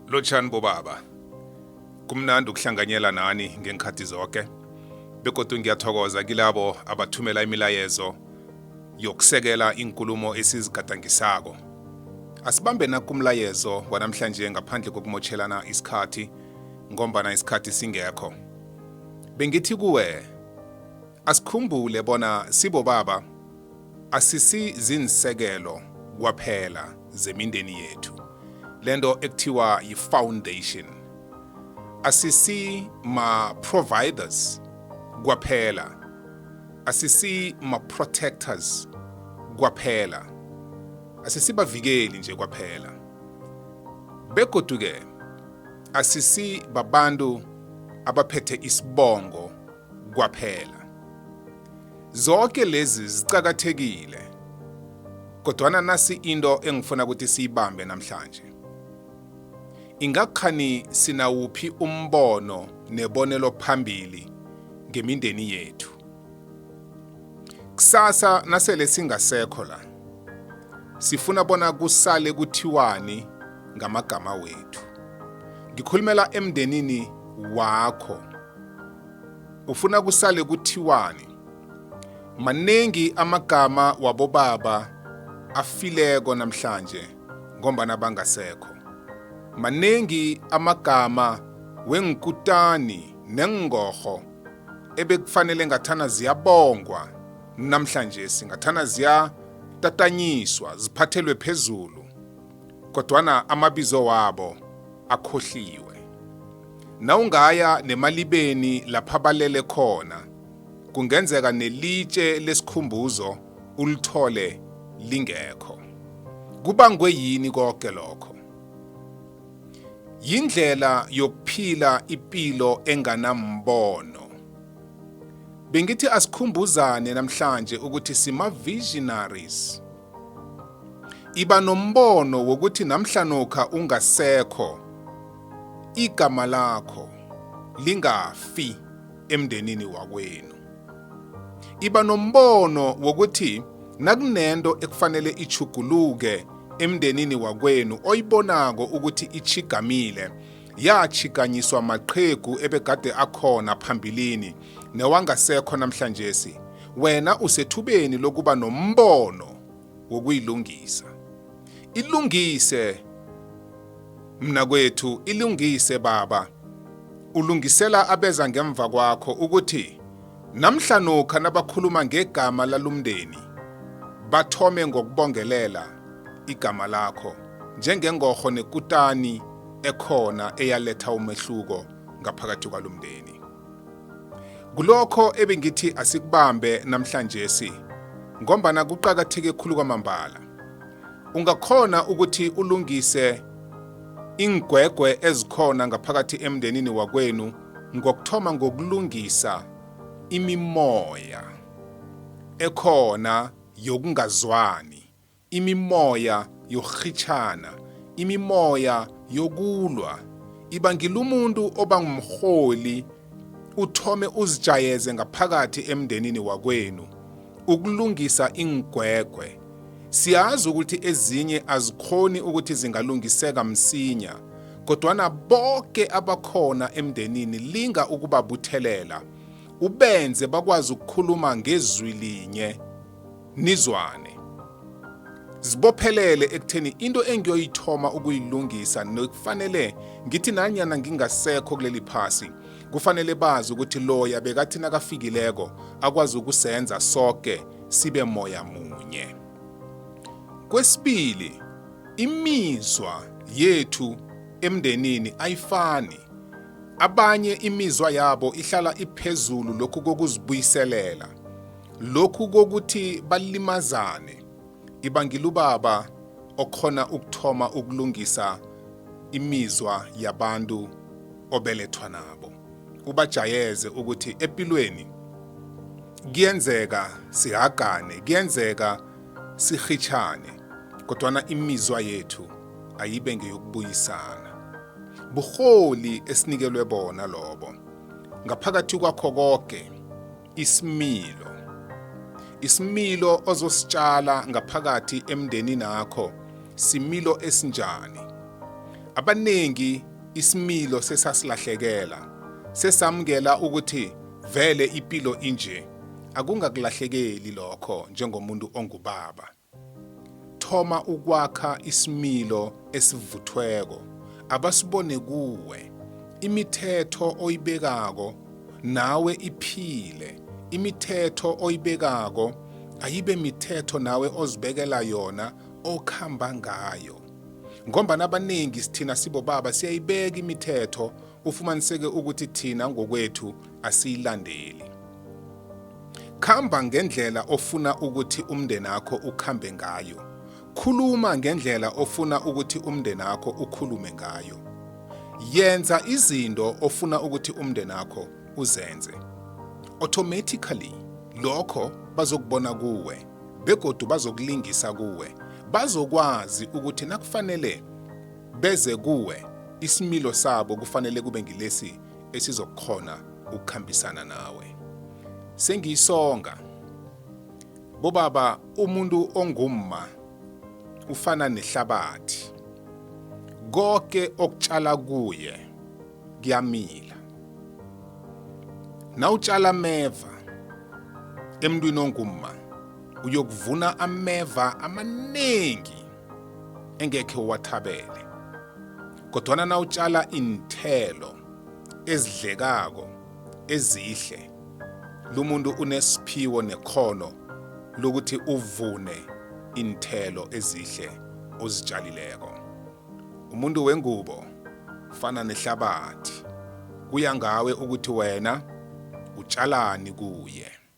Lotshani bobaba. Kumnandi ukuhlanganyela nani ngenkhathi zoke. Begodu ngiyathokoza kilabo abathumela imilayezo yokusekela inkulumo esizigadangisako. Asibambe nakumlayezo wanamhlanje ngaphandle kokumotshelana isikhathi ngombana isikhathi singekho. Bengithi kuwe Asikhumbule bona sibobaba asisi zinsekelo kwaphela zemindeni yethu lento ekuthiwa yi-foundation asisi ma-providers kwaphela asisi ma-protectors kwaphela asisibavikeli nje kwaphela begodu-ke asisi babantu abaphethe isibongo kwaphela. Zonke lezi ziqakathekile. Kodwana nasi into engifuna ukuthi siyibambe namhlanje. Ingakhani sinawuphi umbono nebonelo phambili ngemindeni yethu. Kusasa nasele singasekho la. Sifuna bona kusale kuthiwani ngamagama wethu. Ngikhulumela emndenini wakho. Ufuna kusale kuthiwani? Maningi amagama wabobaba afileko namhlanje ngombana bangasekho. Maningi amagama wengikutani nengorho ebekufanele ngathana ziyabongwa namhlanje singathana ziyatatanyiswa ziphathelwe phezulu kodwana amabizo wabo akhohliwe. Nawungaya nemalibeni lapha balele khona, kungenzeka nelitshe lesikhumbuzo ulithole lingekho. Kubangwe yini konke lokho? Yindlela yokuphila ipilo enganambono. Bengithi asikhumbuzane namhlanje ukuthi sima-visionaries. Iba nombono wokuthi namhlanokha ungasekho, igama lakho lingafi emndenini wakwenu. Iba nombono wokuthi nakunento ekufanele ichuguluke emndenini wakwenu oyibonako ukuthi ichigamile yatshikanyiswa maqhegu ebegade akhona phambilini newangasekho namhlanjesi wena usethubeni lokuba nombono wokuyilungisa ilungise mna kwethu ilungise baba ulungisela abeza ngemva kwakho ukuthi Namhlanokha nabakhuluma ngegama lalumndeni, bathome ngokubongelela igama lakho njengengorho nekutani ekhona eyaletha umehluko ngaphakathi kwalumndeni. Kulokho ebengithi asikubambe namhlanjesi ngombana kuqakatheke khulu kwamambala. Ungakhona ukuthi ulungise ingwegwe ezikhona ngaphakathi emndenini wakwenu ngokuthoma ngokulungisa imimoya ekhona yokungazwani, imimoya yokurhitjhana, imimoya yokulwa. Iba ngila umuntu oba ngumrholi uthome uzijayeze ngaphakathi emndenini wakwenu ukulungisa iingwegwe Siyazi ukuthi ezinye azikhoni ukuthi zingalungiseka msinya, kodwana boke abakhona emndenini linga ukubabuthelela, ubenze bakwazi ukukhuluma ngezwi linye, nizwane. Zibophelele ekutheni into engiyoyithoma ukuyilungisa nekufanele ngithi nanyana ngingasekho kuleli phasi, kufanele bazi ukuthi loya bekathi nakafikileko akwazi ukusenza soke sibe moya munye. Kwesibili, imizwa yethu emndenini ayifani. Abanye imizwa yabo ihlala iphezulu lokhu kokuzibuyiselela, lokhu kokuthi balimazane. Ibangile ubaba okhona ukuthoma ukulungisa imizwa yabantu obelethwa nabo. ubajayeze ukuthi epilweni kuyenzeka sihagane kuyenzeka sihitshane kodwana imizwa yethu ayibe ngeyokubuyisana buholi esinikelwe bona lobo ngaphakathi kwakho konke isimilo isimilo ozositshala ngaphakathi emndenini akho similo esinjani abaningi isimilo sesasilahlekela sesamukela ukuthi vele ipilo inje akungakulahlekeli lokho njengomuntu ongubaba Thoma ukwakha isimilo esivuthweko abasibone kuwe. Imithetho oyibekako nawe iphile. Imithetho oyibekako ayibe mithetho nawe ozibekela yona okhamba ngayo. Ngombana abanengi sithina sibobaba siyayibeka imithetho ufumaniseke ukuthi thina ngokwethu asiyilandeli khamba ngendlela ofuna ukuthi umndeni akho ukhambe ngayo khuluma ngendlela ofuna ukuthi umndeni akho ukhulume ngayo yenza izinto ofuna ukuthi umndeni akho uzenze automatically lokho bazokubona kuwe begodu bazokulingisa kuwe bazokwazi ukuthi nakufanele beze kuwe, isimilo sabo kufanele kube ngilesi esizokukhona ukukhambisana nawe. Sengiyisonga, bobaba umuntu ongumma ufana nehlabathi. Konke okutshala kuye kuyamila. Nawutshala ameva emntwini ongumma uyokuvuna ameva amaningi. engekhe uwathabele kodwana nawutjala iinthelo ezidlekako ezihle lumuntu unesiphiwo nekhono lokuthi uvune iinthelo ezihle ozitshalileko umuntu wengubo fana nehlabathi kuya ngawe ukuthi wena utshalani kuye